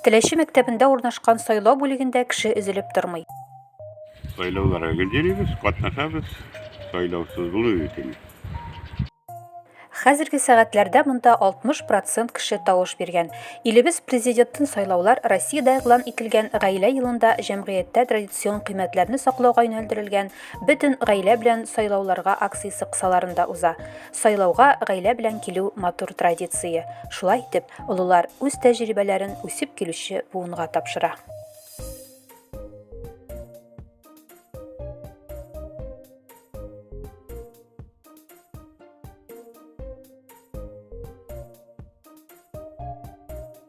Теләче мәктәбендә урнашкан сайлау бүлегендә кеше өзелеп тормый. Сайлауларга гел йөрибез, катнашабыз, сайлаусыз булу бит инде. Хәзерге сәгатьләрдә монда 60 процент кеше тавыш биргән. Илебез президентын сайлаулар Россиядә игълан ителгән Гаилә елында җәмгыятьтә традицион кыйммәтләрне саклауга юнәлдерелгән Бөтен гаилә белән сайлауларга акциясе кысаларында уза. Сайлауга гаилә белән килү матур традиция. Шулай итеп, олылар үз тәҗрибәләрен үсеп килүче буынга тапшыра.